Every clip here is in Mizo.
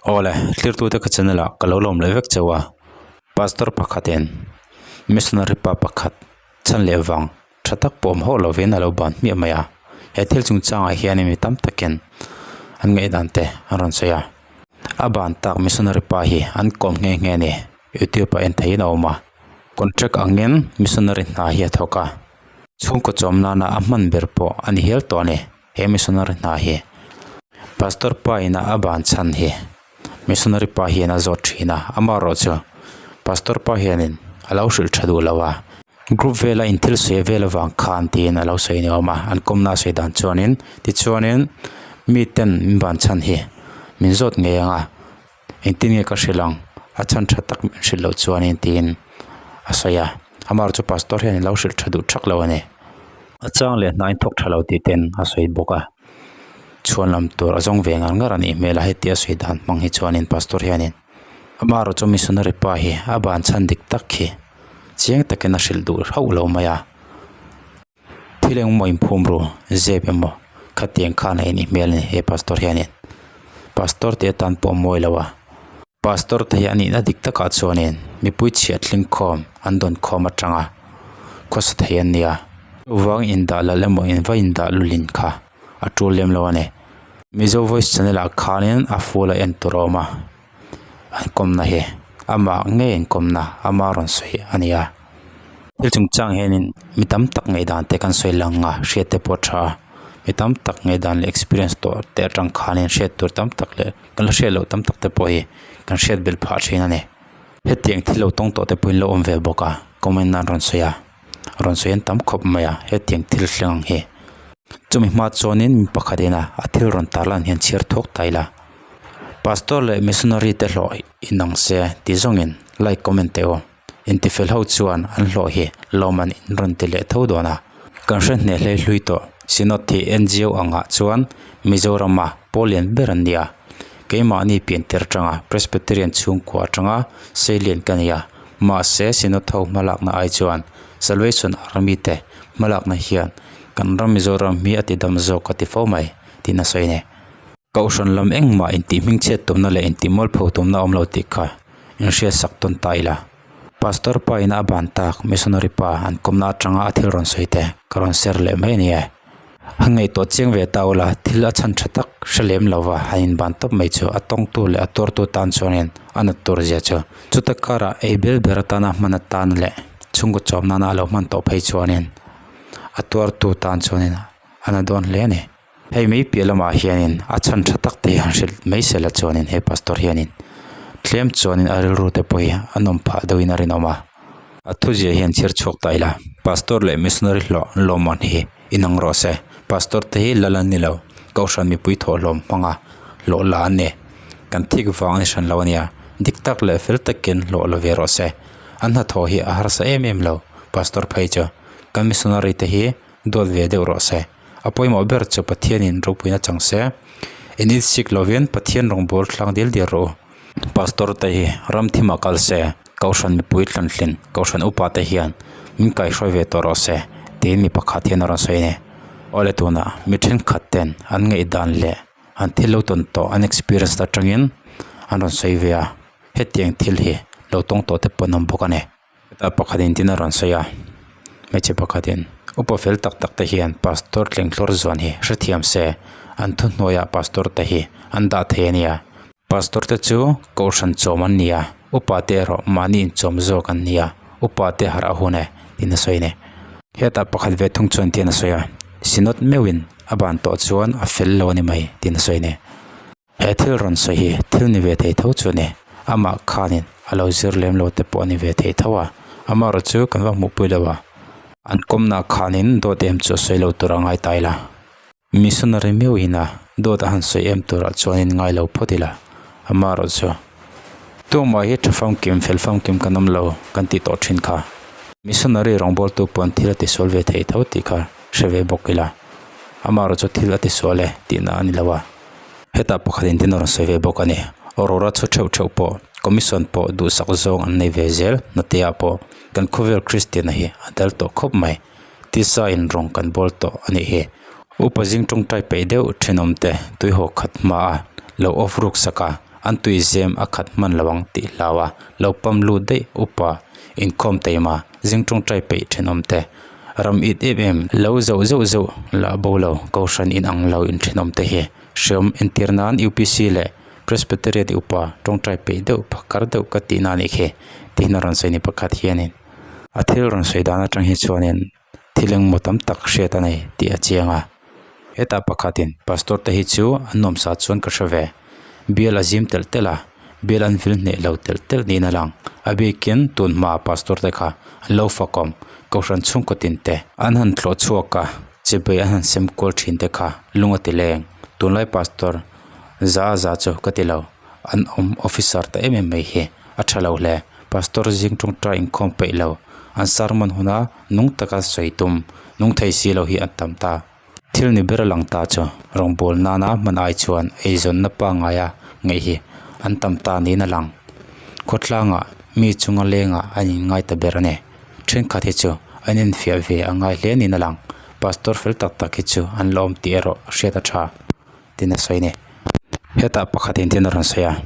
Aw le, tlirtute ka channel ah ka lo lawm leh vek chauh a, Pastor pakhat in Missionary pa pakhat chhan leh vang tha tak pawh awm hauh lovin a lo ban hmiah mai a, he thil chung chang ah hian in mi tam tak in an ngaih dan te an rawn sawi a, a ban tak Missionary pa hi an kawm nghe nghe a ni, YouTube ah en thei in a awm a, contract ang in Missionary hna hi a thawk a, chhungkaw chawm nan ah a hman ber pawh a ni hial tawh a ni. He missionary hna hi Pastor pa inah a ban chhan hi missionary pa hian a zawt thin a, amaherawh chu Pastor pa hianin a lo hrilh tha duh lo a. Group vela in thil sawi vel avang khan tiin a lo sawi ni awm a, an kawmna a sawi dan chuanin. Tichuanin miten min ban chhan hi min zawt ngei ang a. Engtin nge ka hrilh ang? A chhan tha tak min hrilh loh chuanin tiin a sawi a. Amaherawh chu Pastor hian in lo hrilh tha duh thak lo a ni. A chang leh hnain thawk tha lo tih te in a sawi bawk a. Chhuanlam tur a zawng ve ngar ngar a nih hmel a heti a sawi dan hmang hi chuanin Pastor hian in. Amaherawh chu Missionary pa hi a ban chhan dik tak khi chiang takin a hrilh duh hauh lo mai a. Thil engemaw inphum ru, zep emaw khatiang khan a inih hmel a ni he pastor hianin. Pastor tih atan pawh a mawi lo a. Pastor te hi a nihna dik takah chuanin mipui chhiah tling khawm an dawn khawm atanga khawsa thei an nia. Vang indah lal emaw in va indah lul in kha a tul lem lo a ni. Mizo Voice channel ah khanin a full a en tur a awm a. an kawmna hi amah ngei an kawmna ama rawn sawi a ni a thil chung chang hianin mi tam tak ngei dan te kan sawi lang a hriat te pawh a tha a mi tam tak ngei dan leh experience tawh te atang khanin hriat tur tam tak leh kan la hriat loh tam tak te pawh hi kan hriat belh phah thin a ni hetiang thil lo tawng tawh te pawhin lo awm ve bawk a comment nan rawn sawi a. rawn sawi en tam khawp mai a hetiang thil thleng ang hi chumi hma chuanin mi pakhat ina a thil rawn tarh lan hian chhiar thawk ta ila pastor leh missionary te hlawh inang se ti zawngin like comment teh u intifel ho chuan an hlawh hi lawman in rawn ti leh tho dawn a kan hre hneh hlei hlui tawh synod thih ngo angah chuan mizorama paw lian ber an nia keimahni pian teh atanga presbyterian chhungkua atanga seilen ka nia. Mahse, Sinatho hmalakna ai chuan Salvation Army te hmalakna hian kan ram Mizoram hi a tidam zawk ka ti fo mai, tiin a sawi ani. Kohhran lam engmah intihhmingchhiat tumna leh intihmual pho tumna a awm lo tih kha inhriat sak tawn ta ila, Pastor pa ina a ban tak, Missionary pa an kawmna atanga a thil rawn sawi te ka rawn share leh mai a ni e. A ngaihtuah chiang ve ta ula, thil a chhan tha tak hre lem lova han inban tawp mai chu a tawngtu leh a tuartu tan chuangin a nat tur zia chu. Chuta karah ei ber ber atana hman atan leh chhungkaw chawp nana a lo hman tawh phei chuanin a tuartu tan chuanin a na dawn hle a ni. Hei mai piah lamah hianin a chhan tha tak te hi han hrilh mai se la chuanin he pastor hianin tlem chuanin a rilru te pawh hi a nawm phah deuhin a rinawm a. A thuziah hian chhir chhuak ta ila, Pastor leh Missionary hlawh lawmaw'n hi inang rawh se. Pastor te hi lal an ni lo, Kohhran mipui thawh hlawm hmanga hlawh la an ni. Kan thik vang a ni hran lo a nia, dik tak leh fel takin hlawh la ve rawh se. An hnathawh hi a harsa em em lo, Pastor phei chu. Kan Missionary te hi duat ve deuh rawh se. A pawimawh ber chu Pathianin ropuina chang se. In insik lovin Pathian rawngbawr thlang dil dir rawh u. Pastor te hi ramthim a kal se, Kohhran mipui tlanhlin Kohhran upa te hian min kaihruai ve tawh rawh se tiin mi pakhat hian a rawn sawi a ni. Awle tunah mi thenkhat ten an ngaihdan leh an thil lo tawn tawh an experience atangin an rawn sawi ve a, hetiang thil hi lo tawng tawh te pawh an awm bawk a ni. Heta pakhat in tin a rawn sawi a hmeichhe pakhat in upa fel tak tak te hian pastor tlenglawr zuan hi hrethiam se an thu hnuaia pastor te hi an dah thei a nia pastor te chu kohhran chawm an ni a upa te erawh mahni in chawm zawk an ni a upa te harh a hun e tin a sawi a ni heta pakhat ve thung chuan tin a sawi a sinawt meuhin a ban tawh chuan a fel lo a ni mai tin a sawi a ni. He thil rawn sawi hi thil ni ve thei tho chu a ni. Amah khanin a lo zir lem lo te pawh a ni ve thei tho a, amaherawh chu kan va hmuh pui lo a. An kawmna khanin dawt em chu a sawi lo tur a ngai ta ila, missionary miau ina dawt a han sawi em turah chuanin ngai lo phawt ila, amaherawh chu Tûng mah hi tha famkim, fel famkim kan awm lo kan tih tawh thin kha, missionary rawngbawltu pawhin thil a ti sual ve thei tho tih kha hre ve bawk ila, amaherawh chu thil a ti sual e tihna a ni lo a. Heta pakhatin tin a rawn sawi ve bawk a ni, Aurora chu theuh theuh pawh commission pawh duhsak zawng an nei ve zel, Nateah pawh kan khawvel Kristiana hi a dal tawh khawp mai, Tisa-in rawng kan bawl tawh a nih hi. Upa zing tawngtai peih deuh thinawmte tuihaw khat hma a lo off ruksak a, an tuihzem a khat hman lo ang tih hlau a lo pam lut daih upa inkhawm teima zing tawngtai peih thinawmte Ram it em em lo zauh zeuh zeuh lah bo lo Kohhran in ang lo inthinawm te hi hreawm entir nan UPC leh Presbyterian i upa tawngtai peih deuh pakar deuh ka tihna anih khi tihin a rawn sawi ni pakhat hianin a thil rawn sawi dan atang hi chuanin thil engmaw tam tak hriat a nei tih a chiang a. Heta pakhatin Pastor te hi chu an awm sa chuan ka hre ve. Bial a zim telh telh a, bial an vil hneh lo telh telh niin a lang. A bikin tun hma Pastor te kha an lo fakawm, kohhran chhungkaw tin te, an han thlawh chhuak a, chibei an han sem kual thin te kha lung a ti leng, tunlai Pastor za za chu ka ti lo, an awm Officer ta em em mai hi a tha lo hle. Pastor zing tawngtai inkhawm peih lo, an sermon huna Nung taka sawi tum, nung thei si lo hi an tam ta. Thil ni ber a lang ta chu. Rawngbâwl nâna hman ai chuan eizawnna pangngai a ngaih hi an tam ta niin a lang. Khawtlânga mi chunga lênga an inngai ta ber a ni. Ṭhenkhat hi chu an infiah ve a ngai hle niin a lang. Pastor fel tak tak hi chu an la awm tih erawh hriat a ṭha. tin a sawi a ni. Hetah pakhatin tin a rawn sawi a,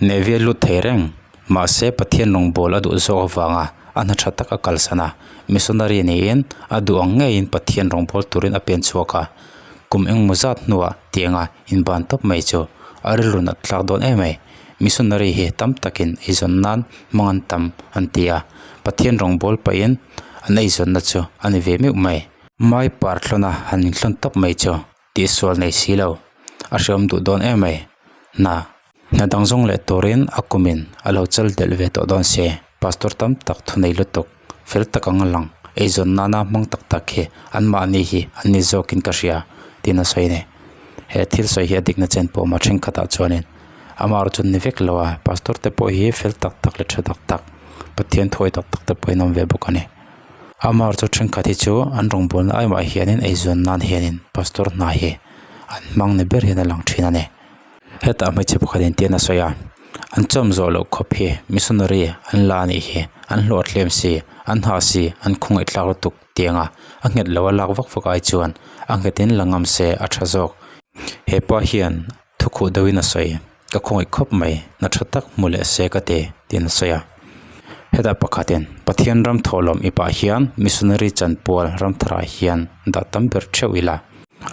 Navy a lut thei reng, mahse Pathian lungbawl a duh zawk avanga a hna tha tak a kalsan a, missionary niin a duh ang ngeiin Pathian rawngbâwl turin a pen chhuak a, kum engemaw zat hnua tianga in ban tawp mai chu a rilrun a tlak dawn em mai. Missionary hi tam takin eizawn nan hmang an tam an ti a, Pathian rawngbâwl pahin an eizawnna chu a ni ve meuh mai. Mai parhlawna han inhlun tawp mai chu tih sual nei si lo, a hreawm duh dawn em mai, hna, hna dang zawng leh turin a kumin a lo chal delh ve tawh dawn se, Pastor tam tak thu nei lutuk, fel tak anga lang, eizawn nana hmang tak tak hi an mahni hi an ni zawkin ka hria, tiin a sawi ani. He thil sawi hi a dikna chen pawh mah thenkhatah chuanin amah ro chu ni vek lo a, Pastor te pawh hi fel tak tak leh tha tak tak, Pathian thuawih tak tak te pawhin a awm ve bawk ani. Amar chu thenkhat hi chu an rawngbawlna ai mah hianin eizawn nan hianin pastor hna hi an hmang ni ber hian a lang thin a ni. Hetah hmeichhe pakhatin tian a sawi a, An chawm zawh loh khawp hi missionary an la anih hi, an hlawhthlem si, an hah si, an khawngaihthlak lutuk tianga a nghet loh a lak vak vak ai chuan a nghetin la ngam se a tha zawk. Hepa hian Thukhuh deuhin a sawi, Ka khawngaih khawp mai, hna tha tak hmu leh se ka ti, tiin a sawi a. Hetah pakhatin, Pathian ram thawhlawm i pah hian missionary chanpual ram tharah hian dah tam ber theuh ila,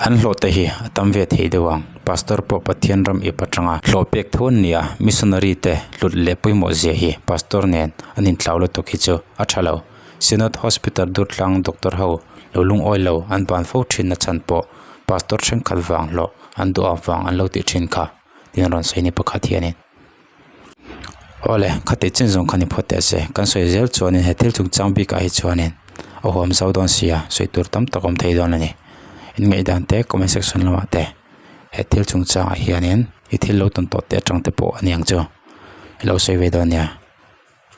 an hlawhte hi a tam ve thei deuh ang, Pastor pawh Pathian ram i pah tanga hlawh pek tho an ni a, missionary te hlut leh pawimawh zia hi Pastor nen an intlau lutuk hi chu a tha lo. Synod Hospital Durtlang doctor ho lo lungawi lo an ban fo thin na chhan pawh Pastor thenkhat vang hlawh an duhawk vang an lo tih thin kha tiin rawn sawi ni pakhat hianin awle khati chin zawng khan i phawt teh se kan sawi zel chuanin he thil chung chang bikah hi chuanin a huam zo dawn sia sawi tur tam tak awm thei dawn a ni in ngaihdan te comment section lamah te he thil chung changah hianin i thil lo tawn tawh te atang te pawh a ni ang chu i lo sawi ve dawn nia.